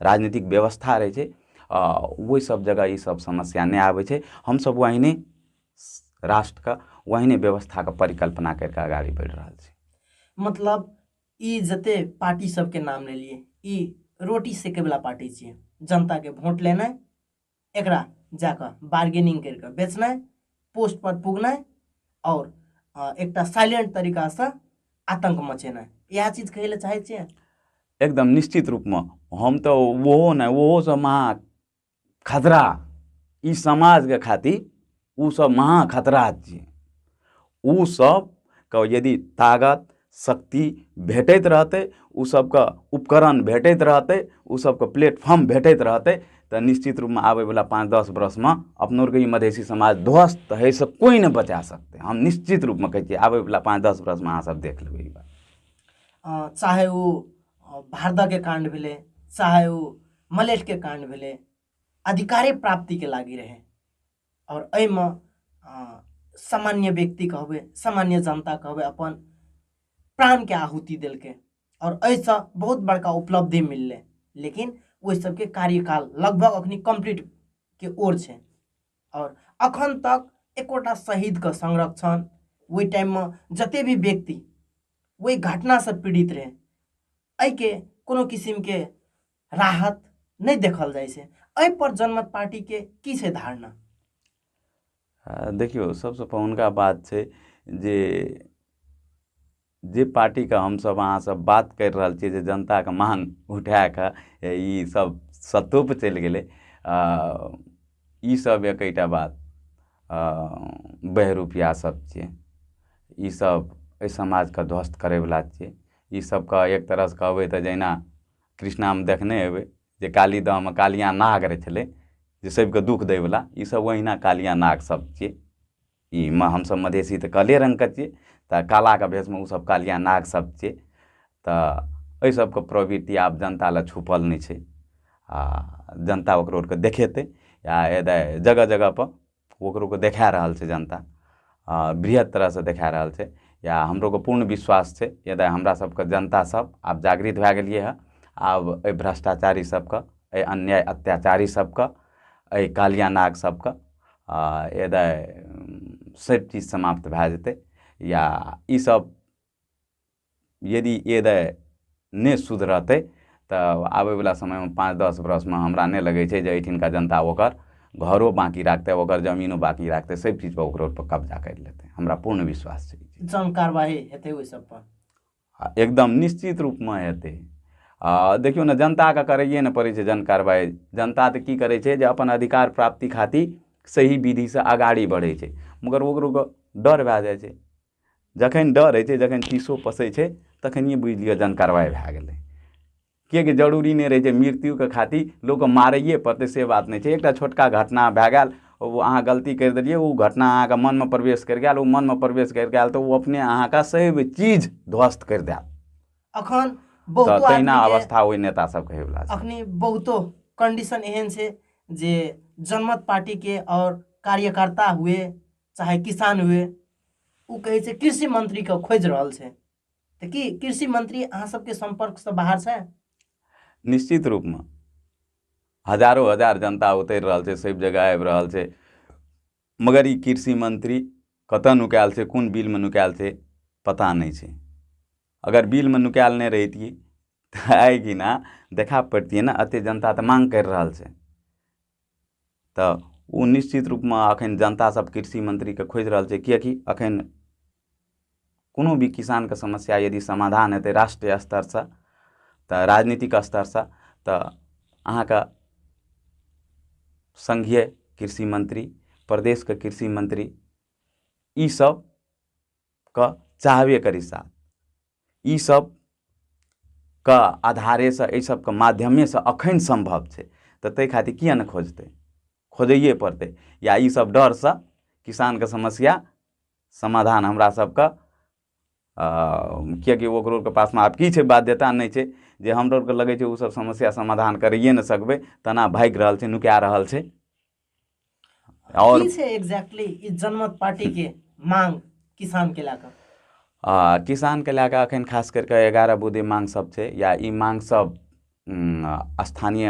राजनीतिक व्यवस्था रहै छै आ ओहि सब जगह ई सब समस्या नहि आबै छै हमसब ओहने राष्ट्रके ओहने व्यवस्थाके परिकल्पना करि कऽ आगारी बढ़ि रहल छी मतलब ई जते पार्टी सबके नाम लेलियै ई रोटी सेके बला पार्टी छियै जनताके वोट लेनाइ एकरा जाकऽ बार्गेनिंग करिकऽ बेचनाइ पोस्टपर पुगनाइ आओर एकटा साइलेंट तरीकासँ आतंक मचेनाइ इएह चीज कहै लए चाहै छियै एकदम निश्चित रूपमे हम तऽ ओहो नहि ओहोसँ महा खतरा ई समाजके खातिर ओ सब महा खतरा छियै ओ सब के यदि तागत शक्ति भेटैत रहतै ओ सबके उपकरण भेटैत रहतै ओ सबके प्लेटफॉर्म भेटैत रहतै तऽ निश्चित रूपमे आबै बला पाँच दस बरसमे अपनो आरके ई मधेसी समाज ध्वस्त होइ से कोइ नहि बचा सकतै हम निश्चित रूपमे कहै छियै आबै बला पाँच दस बरसमे अहाँ सब देख लेबै ई बात अ, चाहे ओ भारदके काण्ड भेलै चाहे ओ मलेटके काण्ड भेलै अधिकारे प्राप्तिके लागि रहै आओर एहिमे सामान्य व्यक्ति कहबै सामान्य जनता कहबै अपन प्राणके आहुति देलकै आओर एहिसँ बहुत बड़का उपलब्धि मिललै लेकिन ओहि सबके कार्यकाल लगभग अखनी कम्प्लीटके ओर छै आओर अखन तक एकोटा शहीदके संरक्षण ओहि टाइममे जते भी व्यक्ति ओहि घटनासँ पीड़ित रहै एहिके कोनो किसिमके राहत नहि देखल जाइ छै एहिपर जनमत पार्टीके की छै धारणा देखियौ सभसँ पहिलुका बात छै जे जे पार्टीके हमसभ अहाँसभ बात करि रहल छियै जे जनताके मांग उठा कऽ ई सब सत्तोपर चलि गेलै आ ई सब एकैटा बात बहरूपिया सब छियै ई सब एहि समाजके ध्वस्त करैवला छियै ई सबके एक तरहसँ कहबै तऽ जहिना कृष्णामे देखने हेबै जे काली दहमे कालिया नाग रहै छलै जे सभके दुःख दैवला ईसभ ओहिना कालिया नाग सभ छियै ई मे हमसभ मधेसी तऽ काले रङ्गके छियै तऽ कालाके भेषमे ओसभ कालिया नाग सभ छियै तऽ एहि सभके प्रवृति आब जनता लए छुपल नहि छै आ जनता ओकरो आरके देखेतै आ एतय जगह जगहपर ओकरोके देखा रहल छै जनता आ, बृहत तरहसँ देखा रहल छै या हमरोके पूर्ण विश्वास छै यदि हमरा सबके जनता सब आब जागृत भए गेलियै हँ आब एहि भ्रष्टाचारी सबके एहि अन्याय अत्याचारी सबके एहि कालिया नाग सबके आ, यदि सब चीज समाप्त भए जेतै या ई सब यदि एदय नहि सुधरतै तऽ आबैवला समयमे पाँच दस बरसमे हमरा नहि लगै छै जे एहिठिनका जनता ओकर घरो बाँकी राखतै ओकर जमीनो बाँकी राखतै सभ चीजपर ओकरो पर कब्जा करि लेतै हमरा पूर्ण विश्वास छै जन कारवाही हेतै ओहि सभ पर आ एकदम निश्चित रूपमे हेतै आ देखियौ ने जनताके करैए ने पड़ै छै जन कारवाही जनता तऽ की करै छै जे अपन अधिकार प्राप्ति खातिर सही विधिसँ अगाड़ी बढ़ै छै मगर ओकरो डर भए जाइ छै जखन डरै छै जखन चिसो पसै छै तखनिये बुझि लिअ जहन कारवाइ भए गेलै किएकि जरूरी नहि रहै छै मृत्युके खातिर लोकके मारैये पड़तै से बात नहि छै एकटा छोटका घटना भए गेल ओ अहाँ गलती करि देलियै ओ घटना अहाँके मनमे प्रवेश करि गेल ओ मनमे प्रवेश करि गेल तऽ ओ अपने अहाँके सैव चीज ध्वस्त करि देत अखन तऽ बहुतो तहिना आदमी के- अवस्था ओहि नेता सबके होयवला छै अखनी बहुतो कंडीशन एहन छै जे जनमत पार्टी के और कार्यकर्ता हुए चाहे किसान हुए ओ कहै छै कृषि मंत्रीके खोजि रहल छै तऽ की कृषि मंत्री अहाँ सबके सम्पर्कसँ बाहर छै निश्चित रूपमे हजारो हजार जनता उतरि रहल छै सभ जगह आबि रहल छै मगर ई कृषि मंत्री कतऽ नुकायल छै कोन बिलमे नुकायल छै पता नहि छै अगर बिलमे नुकायल नहि रहितियै तऽ आइ दिना देखा पड़ितियै ने एते जनता तऽ माँग करि रहल छै तऽ ओ निश्चित रूपमे एखन जनता सब कृषि मंत्रीके खोजि रहल छै किएकि एखन कोनो भी किसानके समस्या यदि समाधान हेतै राष्ट्रीय स्तरसँ तऽ राजनीतिक स्तरसँ तऽ अहाँके संघीय कृषि मंत्री प्रदेशके कृषि मंत्री ई सब कऽ चाहबे करी साथ ई सब के आधारे सऽ एहि सबके माध्यमे सऽ अखन सम्भव छै तऽ ताहि खातिर किए नहि खोजतै खोजैये पड़तै या ई सब डर सऽ किसानके समस्या समाधान हमरा सबके किएकि ओकरो के पासमे आब की छै बाध्यता नहि छै जे हमरो आरके लगै छै ओ सब समस्या समाधान करैये नहि सकबै तेना भागि रहल छै नुका रहल छै और से एग्जैक्टली ई जनमत पार्टी के मांग किसान के लाकर आ, किसान के लए कऽ अखन खास करि कऽ एगारह बुद्धि मांग सब छै या ई मांग सब उम, स्थानीय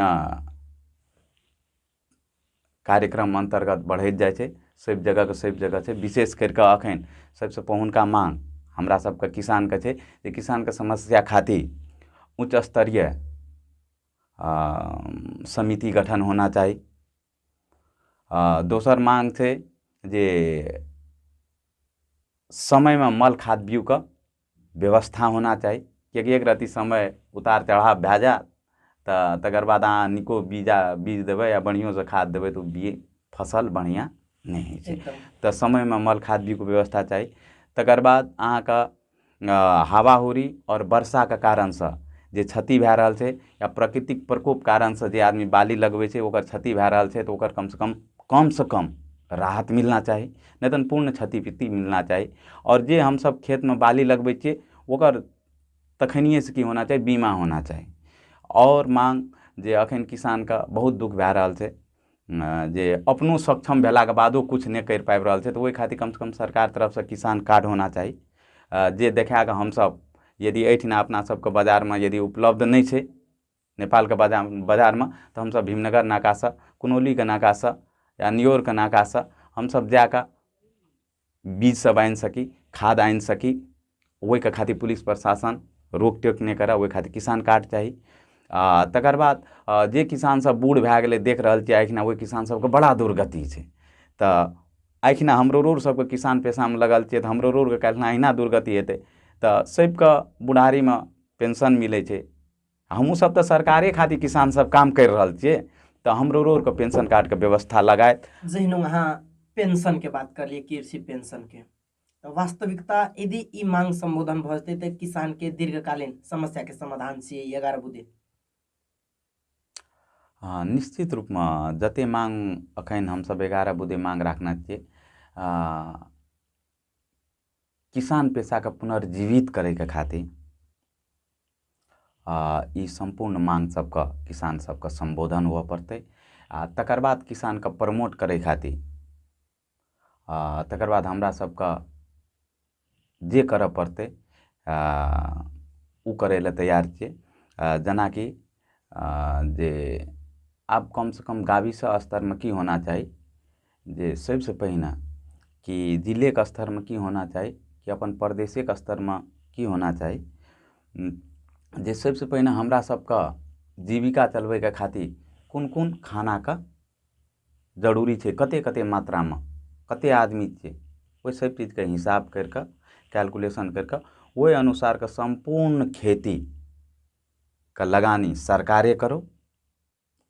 कार्यक्रम अन्तर्गत बढ़ैत जाइ छै सभ जगहके सभ जगह छै विशेष करि कऽ अखन सभसँ पहुनका मांग हमरा सभके किसानके छै जे किसानके समस्या खातिर उच्च स्तरीय समिति गठन होना चाही आ दोसर माँग छै जे समयमे मल खाद बीयूके व्यवस्था होना चाही किएकि एक रत्ती समय उतार चढ़ाव भए जायत तऽ तकर बाद अहाँ नीको बीजा बीज देबै आ बढ़िओँसँ खाद देबै तऽ ओ बी फसल बढ़िआँ नहि होइ छै तऽ समयमे मल खाद बीयूके व्यवस्था चाही तकर बाद अहाँके हावा हुरी आओर वर्षाके कारणसँ जे क्षति भए रहल छै या प्रकृतिक प्रकोप कारणसँ जे आदमी बाली लगबै छै ओकर क्षति भए रहल छै तऽ ओकर कम सऽ कम कम सऽ कम राहत मिलना चाही नहि तऽ पूर्ण क्षति पूर्ति मिलना चाही आओर जे हमसब खेतमे बाली लगबै छियै ओकर तखनिये सऽ की होना चाही बीमा होना चाही आओर माँग जे अखन किसानके बहुत दुःख भए रहल छै जे अपनो सक्षम भेलाके बादो किछु नहि करि पाबि रहल छै तऽ ओहि खातिर कमसँ कम सरकार तरफसँ किसान कार्ड होना चाही जे देखा कऽ हमसभ यदि एहिठिना अपना सभके बाजारमे यदि उपलब्ध नहि छै नेपालके बाजा बाजारमे तऽ हमसभ भीमनगर नाकासँ कुनौलीके नाकासँ या नियौरके नाकासँ हमसभ जा कऽ बीज सब आनि सकी खाद आनि सकी ओहिके खातिर पुलिस प्रशासन रोक टोक नहि करय ओहि खातिर किसान कार्ड चाही आ तकर बाद जे किसानसभ बूढ़ भए गेलै देख रहल छियै एखन ओहि किसानसभके बड़ा दुर्गति छै तऽ एखन हमरो रोड सभके किसान पेशामे लगल छियै तऽ हमरो रोडके काल्हिखिन अहिना दुर्गति हेतै तऽ सभके बुढ़ारीमे पेंशन मिलै छै हमहुँ सब तऽ सरकारे खातिर किसान सब काम करि रहल छियै तऽ हमरो रोडके पेंशन कार्डके व्यवस्था लगायत जहिना अहाँ पेंशनके बात करलियै कृषि पेंशनके तऽ वास्तविकता यदि ई मांग सम्बोधन भऽ जेतै तऽ किसानके दीर्घकालीन समस्याके समाधान छियै ई एगारह बुधे हँ निश्चित रूपमे जते मांग अखन हमसब एगारह बुधे मांग राखने छियै किसान पेशाके पुनर्जीवित करैके खातिर ई सम्पूर्ण मांग सबके किसान सबके सम्बोधन हुअ पड़तै आ तकर बाद किसानके प्रमोट करै खातिर आ तकर बाद हमरा सबके जे करऽ पड़तै आ, ओ करै लए तैयार छियै आ, जेनाकि आ, जे आब कमसँ कम गाविस स्तरमे की होना चाही जे सभसँ पहिने कि जिलेके स्तरमे की होना चाही कि अपन प्रदेशेके स्तरमे की होना चाही जे सभसँ पहिने हमरा सभके जीविका चलबैके खातिर कोन कोन खानाके जरूरी छै कते कते मात्रामे कते आदमी छियै ओहि सभ चीजके हिसाब करि कऽ कैलकुलेशन करि कऽ ओहि अनुसारके सम्पूर्ण खेती के लगानी सरकारे करो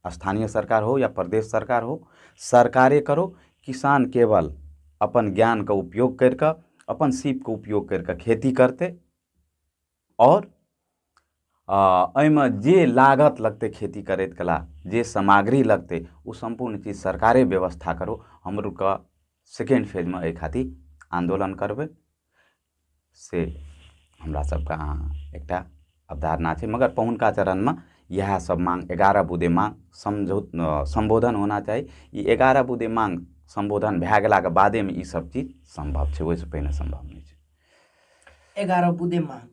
स्थानीय सरकार हो या प्रदेश सरकार हो सरकारे करो किसान केवल अपन ज्ञानके उपयोग करि कऽ अपन सीपके उपयोग करि कऽ खेती करतै आओर एहिमे जे लागत लगतै खेती करैत कला जे सामग्री लगतै ओ सम्पूर्ण चीज सरकारे व्यवस्था करो हमरो कऽ सेकेण्ड फेजमे एहि खातिर आन्दोलन करबै से हमरा सबके अहाँ एकटा अवधारणा छै मगर पहिलुका चरणमे इएह सब माङ्ग एगारह बुँदे माङ्ग समझो सम्बोधन होना चाही ई एगारह बुँदे माङ्ग सम्बोधन भए गेलाके बादेमे ई सब चीज सम्भव छै ओहिसँ पहिने सम्भव नहि छै एगारह बुँदे माङ्ग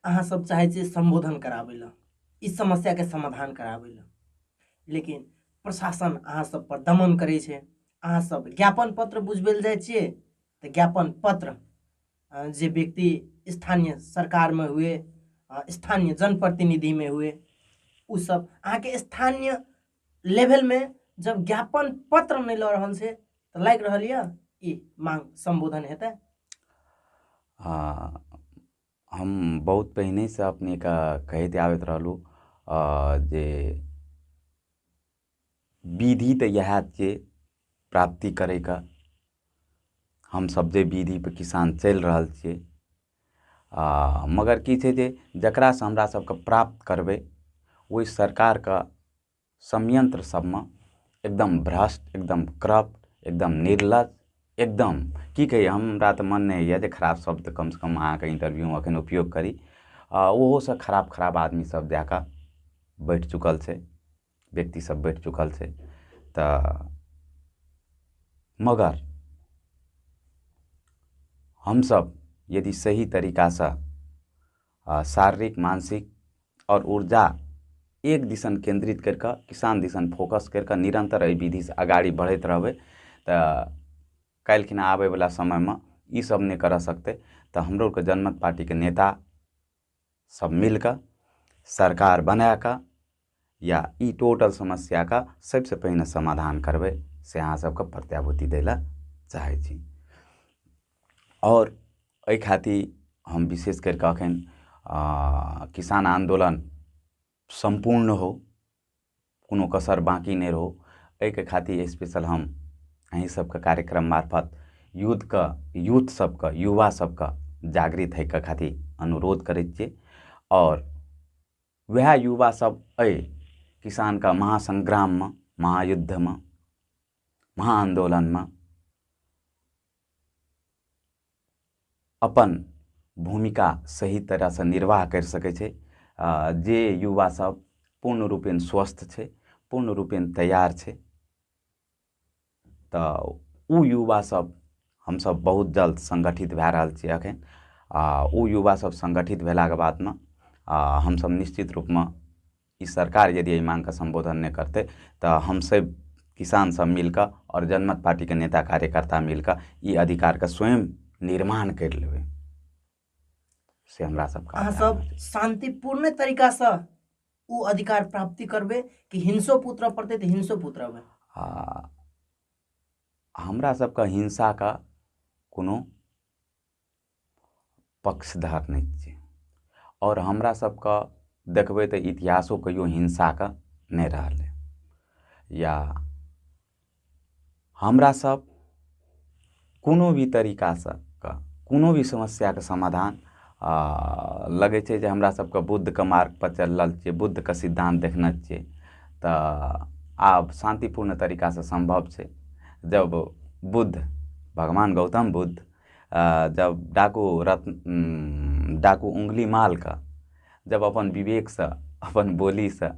अहाँ सब चाहै छियै सम्बोधन कराबै लए ई समस्याके समाधान कराबै लए लेकिन प्रशासन अहाँ सब पर दमन करै छै अहाँ सब ज्ञापन पत्र बुझबै लए जाइ छियै तऽ ज्ञापन पत्र जे व्यक्ति स्थानीय सरकारमे हुए स्थानीय जनप्रतिनिधिमे हुए ओ सब अहाँके स्थानीय लेवलमे जब ज्ञापन पत्र नहि लऽ रहल छै तऽ लागि रहल यऽ ई मांग संबोधन हेतै आ, हम बहुत पहिनेसँ अपनेके कहैत आबैत रहलहुँ आ, जे विधि तऽ इएह जे प्राप्ति करैके हमसब जे विधि पर किसान चलि रहल छियै आ मगर की छै जे जेकरा सऽ हमरा सबके प्राप्त करबै ओहि सरकारके समयंत्र सबमे एकदम भ्रष्ट एकदम क्रप्ट एकदम निर्लज एकदम की कही हमरा तऽ मन नहि होइया जे खराब शब्द कम सऽ कम अहाँके इंटरव्यूमे अखन उपयोग करी आ ओहो सऽ खराब खराब आदमी सब जाए कऽ बैठ चुकल छै व्यक्ति सब बैठ चुकल छै तऽ मगर हमसब यदि सही तरीकासँ आ शारीरिक मानसिक आओर ऊर्जा एक दिसन केन्द्रित करि कऽ किसान दिसन फोकस करि कऽ निरन्तर एहि विधिसँ अगाड़ी बढ़ैत रहबै तऽ काल्हिखिना आबैवला समयमे ईसब नहि करऽ सकतै तऽ हमरो आओरके जनमत पार्टीके नेता सब मिल कऽ सरकार बनाए कऽ या ई टोटल समस्याके सबसे पहिने समाधान करबै से अहाँ सबके प्रत्याभूति दै लए चाहै छी आओर एहि खातिर हम विशेष करि कऽ अखन किसान आन्दोलन सम्पूर्ण हो कोनो कसर बाँकी नहि रहो एहिके खातिर स्पेशल हम अहीँ सबके कार्यक्रम मार्फत यूथके यूथ सबके युवा सबके जागृत होइके खातिर अनुरोध करै छियै आओर वएह युवा सब एहि किसानके महासंग्राममे महायुद्धमे महाआन्दोलनमे अपन भूमिका सही तरहसँ निर्वाह करि सकै छै जे युवा सब पूर्ण रूपेण स्वस्थ छै पूर्ण रूपेण तैयार छै तऽ ओ युवा सब हमसब बहुत जल्द संगठित भए रहल छियै अखन आ ओ युवा सब संगठित भेलाके बादमे आ हमसब निश्चित रूपमे ई सरकार यदि एहि माँगके सम्बोधन नहि करतै तऽ हमसभ किसान सभ मिलकऽ आओर जनमत पार्टीके नेता कार्यकर्ता मिलकऽ ई अधिकारके स्वयं निर्माण करि लेबै से हमरा सभके अहाँ आग्रह सब अछि। शान्तिपूर्ण तरीकासँ ओ अधिकार प्राप्ति करबै कि हिंसो पुत्र पड़तै तऽ हिंसो पुत्र अबै आ हमरा सभके हिंसाके कोनो पक्षधर नहि छियै आओर हमरा सबके देखबै तऽ इतिहासो कहियो हिंसाके नहि रहलै या हमरा सब कोनो भी तरीका सऽ कऽ कोनो भी समस्याके समाधान लगै छै जे हमरा सबके बुद्धके मार्ग पर चलल छियै बुद्धके सिद्धान्त देखने छियै तऽ आब शान्तिपूर्ण तरीका सऽ सम्भव छै जब बुद्ध भगवान गौतम बुद्ध जब डाकू रत्न डाकू उंगली मालके जब अपन विवेकसँ अपन बोलीसँ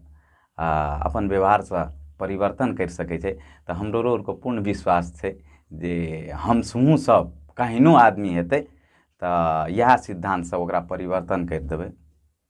आ अपन व्यवहारसँ परिवर्तन करि सकै छै तऽ हमरो आरके पूर्ण विश्वास छै जे हम हमहूँ सब केहनो आदमी हेतै तऽ इएह सिद्धान्तसँ ओकरा परिवर्तन करि देबै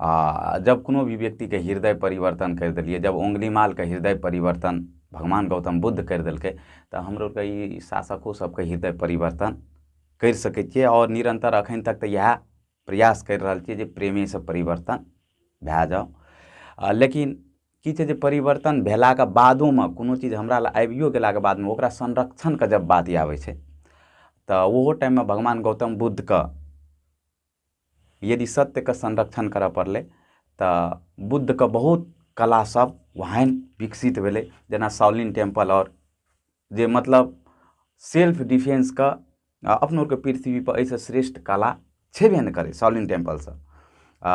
आ जब कोनो भी व्यक्तिके हृदय परिवर्तन करि देलियै जब ओंगलीमालके हृदय परिवर्तन भगवान गौतम बुद्ध करि देलकै तऽ हमरो ई शासको सबके हृदय परिवर्तन करि सकै छियै आओर निरन्तर अखन तक तऽ इएह प्रयास करि रहल छियै जे प्रेमे से परिवर्तन भए जाउ आ लेकिन की छै जे परिवर्तन भेलाके बादोमे कोनो चीज हमरा लए आबियो गेलाके बादमे ओकरा संरक्षणके जब बात आबै छै तऽ ओहो टाइममे भगवान गौतम बुद्धके यदि सत्यके संरक्षण करऽ पड़लै तऽ बुद्धके बहुत कला सब ओहन विकसित भेलै जेना साउलिन टेम्पल आओर जे मतलब सेल्फ डिफेन्सके अपनो आरके पृथ्वी पर एहिसँ श्रेष्ठ कला छेबे नहि करै साउलिन टेम्पल सब आ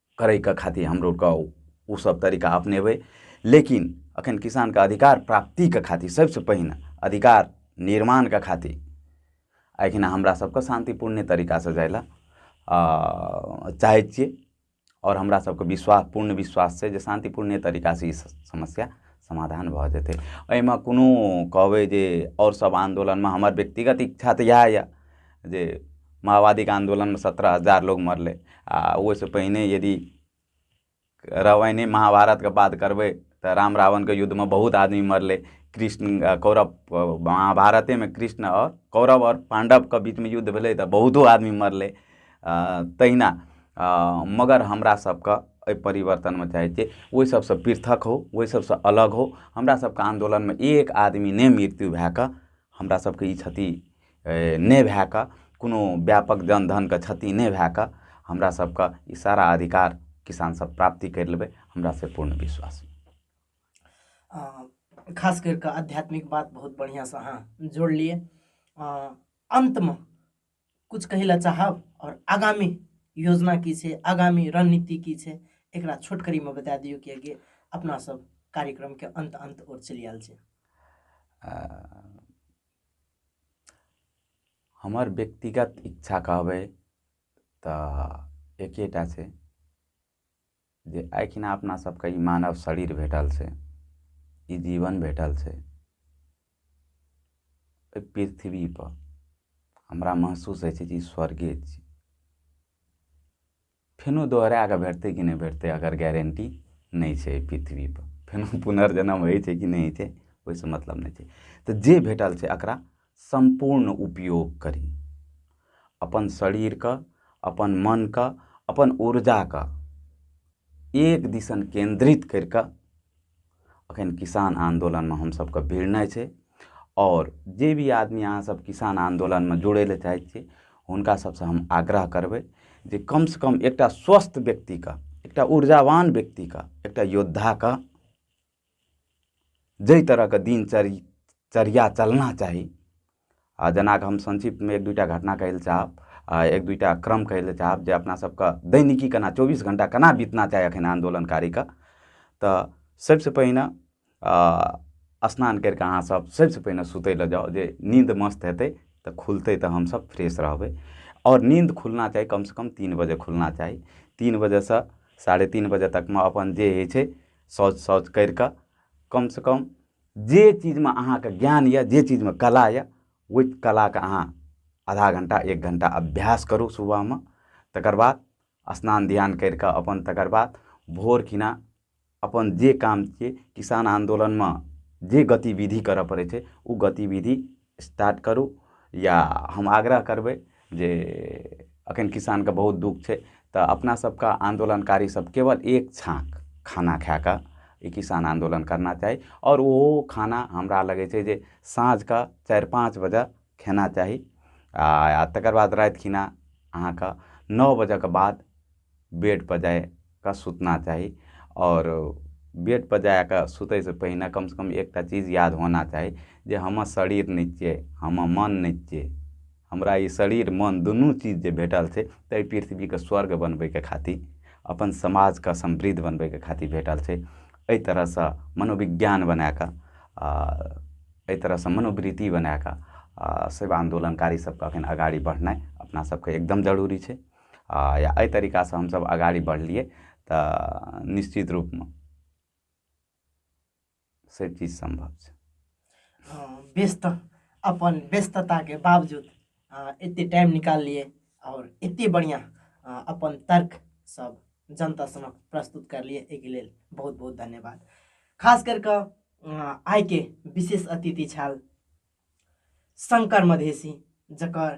करैके खातिर हमरोके ओसब तरीका अपनेबै लेकिन एखन किसानके अधिकार प्राप्तिके खातिर सबसे पहिने अधिकार निर्माणके खातिर एखन हमरा सबके शान्तिपूर्ण तरीका से जाइ लए चाहै छियै आओर हमरा सबके विश्वास पूर्ण विश्वास छै जे शान्तिपूर्ण तरीका से ई समस्या समाधान भऽ जेतै एहिमे कोनो कहबै जे आओर सब आन्दोलनमे हमर व्यक्तिगत इच्छा तऽ इएह यऽ जे माओवादीके आन्दोलनमे सत्रह हजार लोग मरलै आ ओहिसँ पहिने यदि रामायणे महाभारतके बात करबै तऽ राम रावणके युद्धमे बहुत आदमी मरलै कृष्ण आ कौरव अ, महाभारतेमे कृष्ण आओर कौरव आओर पाण्डवके बीचमे युद्ध भेलै तऽ बहुतो आदमी मरलै आ, तहिना आ, मगर हमरा सबके एहि परिवर्तनमे चाहै छियै ओहि सबसँ पृथक हो ओहि सबसँ अलग हो हमरा सबके आन्दोलनमे एक आदमी नहि मृत्यु भए कऽ हमरा सबके ई क्षति नहि भए कऽ कोनो व्यापक जन धनके क्षति नहि भए कऽ हमरा सबके ई सारा अधिकार किसान सब प्राप्ति करि लेबै हमरा से पूर्ण विश्वास यऽ खास करि कऽ आध्यात्मिक बात बहुत बढ़िआँ से अहाँ जोड़लियै अन्तमे कुछ कहै लए चाहब आओर आगामी योजना की छै आगामी रणनीति की छै एकरा छोटकरीमे बता दियौ किएकि अपना सब कार्यक्रमके अन्त अन्त ओर चलि आयल छै हमर व्यक्तिगत इच्छा कहबै तऽ एकेटा छै जे एहिठिना अपना सबके ई मानव शरीर भेटल छै ई जीवन भेटल छै एहि पृथ्वी पर हमरा महसूस होइ छै जे ई स्वर्गे छी फेनु दोहराए कऽ भेटतै कि नहि भेटतै एकर गारंटी नहि छै एहि पृथ्वीपर फेनु पुनर्जन्म होइ छै कि नहि होइ छै ओहिसँ मतलब नहि छै तऽ जे भेटल छै एकरा सम्पूर्ण उपयोग करी अपन शरीरके अपन मनके अपन ऊर्जाके एक दिसन केन्द्रित करि कऽ अखन किसान आन्दोलनमे हमसभके भिड़नाइ छै आओर जे भी आदमी अहाँ सभ किसान आन्दोलनमे जुड़ै लए चाहै छियै हुनका सभसँ हम आग्रह करबै जे कम सँ कम एकटा स्वस्थ व्यक्तिके एकटा ऊर्जावान व्यक्तिके एकटा योद्धाके जाहि तरहके दिनचर्य चर्या चलना चाही आ जेनाकि हम संक्षिप्तमे एक दूटा घटना कहै लए चाहब आ एक दूटा क्रम कहै लए चाहब जे अपना सबके दैनिकी केना चौबीस घंटा केना बीतना चाही अखन आन्दोलनकारीके तऽ सबसे पहिने स्नान करि कऽ अहाँ सब सबसे पहिने सुतै लए जाउ जे नींद मस्त हेतै तऽ खुलतै तऽ हमसब फ्रेश रहबै आओर नींद खुलना चाही कम से कम तीन बजे खुलना चाही तीन बजे सऽ साढ़े तीन बजे तकमे अपन जे होइ छै शौच तौच करि कऽ कम से कम जे चीजमे अहाँके ज्ञान यऽ जे चीजमे कला यऽ ओहि कलाके अहाँ आधा घंटा एक घंटा अभ्यास करू सुबहमे तकर बाद स्नान ध्यान करि कऽ अपन तकर बाद भोर खिना अपन जे काम छियै किसान आन्दोलनमे जे गतिबिधि करऽ पड़ै छै ओ गतिबिधि स्टार्ट करू या हम आग्रह करबै जे अखन किसानके बहुत दुःख छै तऽ अपना सबके आन्दोलनकारी सब केवल एक छाक खाना खाए कऽ ई किसान आन्दोलन करना चाही आओर ओ खाना हमरा लगै छै जे साँझ कऽ चारि पाँच बजे खेना चाही आ तकर बाद राति खिना अहाँके नओ बजे कऽ बाद बेड पर जाय कऽ सुतना चाही आओर बेड पर जाय कऽ सुतै से पहिने कम से कम एकटा चीज याद होना चाही जे हमर शरीर नहि छियै हमर मन नहि छियै हमरा ई शरीर मन दुनू चीज जे भेटल छै एहि पृथ्वीके स्वर्ग बनबैके खातिर अपन समाजके समृद्ध बनबैके खातिर भेटल छै एहि तरह सऽ मनोबिज्ञान बनाए कऽ आ एहि तरह सऽ मनोबृति बनाए कऽ आ सेवा आन्दोलनकारी सबके अखन अगाड़ी बढ़नाइ अपना सबके एकदम जरुरी छै आ या एहि तरीकासँ हमसभ अगाड़ी बढ़लियै तऽ निश्चित रूपमे से चीज सम्भव छै अ, व्यस्त अपन व्यस्तता के बावजूद अ, एते टाइम निकाल लिए और एते बढ़िया अ, अपन तर्क सब जनता समक्ष प्रस्तुत कर लिए एहि के लेल बहुत बहुत धन्यवाद खास कर कऽ अ, आइ के विशेष अतिथि छल शङ्कर मधेसी जकर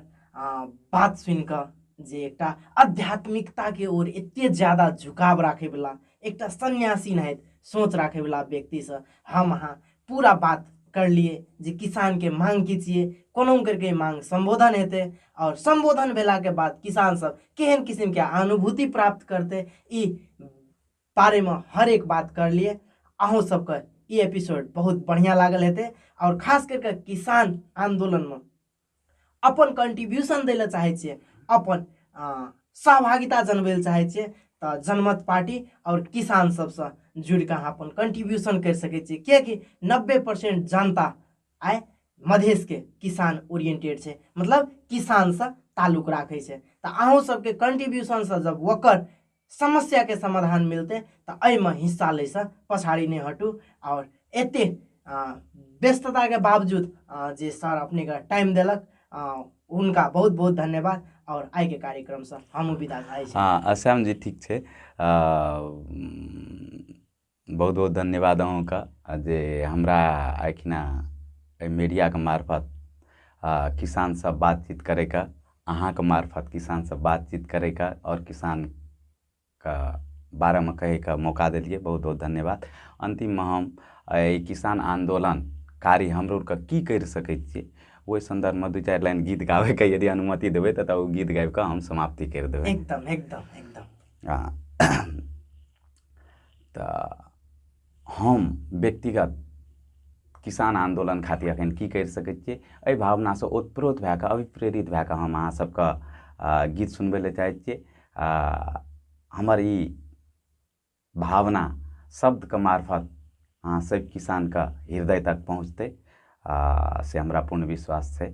बात सुनि कऽ जे एकटा आध्यात्मिकताके ओर एते ज्यादा झुकाव राखैवला एकटा सन्यासी नाहित सोच राखैवला व्यक्तिसँ हम अहाँ पूरा बात करलियै जे किसानके मांग की छियै कोनो करके मांग सम्बोधन हेतै आओर सम्बोधन भेलाके बाद किसानसभ केहन किसिमके अनुभूति प्राप्त करतै ई बारेमे हर एक बात करलिए अहूँ सबके ई एपिसोड बहुत बढ़िआँ लागल हेतै आओर खास करिके किसान आन्दोलनमे अपन कन्ट्रीब्यूशन दै लए चाहै छियै अपन सहभागिता जनबै लए चाहै छियै तऽ जनमत पार्टी आओर किसान सबसँ जुड़ि कऽ अहाँ अपन कन्ट्रीब्यूशन करि सकै छियै किएकि नब्बे परसेंट जनता आइ मधेशके किसान ओरिएंटेड छै मतलब किसानसँ ताल्लुक राखै छै तऽ अहूँ सबके कन्ट्रीब्यूशनसँ जब ओकर समस्याके समाधान मिलतै तऽ एहिमे हिस्सा लैसँ पछाड़ी नहि हटू आओर एते व्यस्तताके बावजूद जे सर अपनेके टाइम देलक हुनका बहुत बहुत धन्यवाद आओर आइके कार्यक्रमसँ हमहूँ विदा भए छी हँ असम जी ठीक छै बहुत बहुत धन्यवाद अहूँके आ जे हमरा एखिना एहि मीडियाके मार्फत आ किसानसँ बातचीत करैके अहाँके मार्फत किसानसँ बातचीत करैके आओर किसानके बारेमे कहैके मौका देलियै बहुत बहुत धन्यवाद अन्तिममे हम एहि किसान आन्दोलन कार्य हमरो आरके की करि सकै छियै ओहि सन्दर्भमे दू चारि लाइन गीत गाबैके यदि अनुमति देबै तऽ तऽ ओ गीत गाबि कऽ हम समाप्ति करि देबै एकदम एकदम एकदम आ तऽ हम व्यक्तिगत किसान आन्दोलन खातिर एखन की करि सकै छियै एहि भावनासँ ओतप्रोत भए कऽ अभिप्रेरित भए कऽ हम अहाँ सबके आ, गीत सुनबै लए चाहै छियै आ, हमर ई भावना शब्दके मार्फत अहाँ सब किसानके हृदय तक पहुँचतै आ, से हमरा पूर्ण विश्वास छै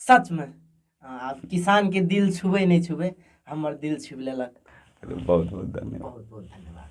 सच में आ, किसान के दिल छुबे नहीं छुबे हमर दिल छुब लेलक बहुत बहुत धन्यवाद बहुत बहुत धन्यवाद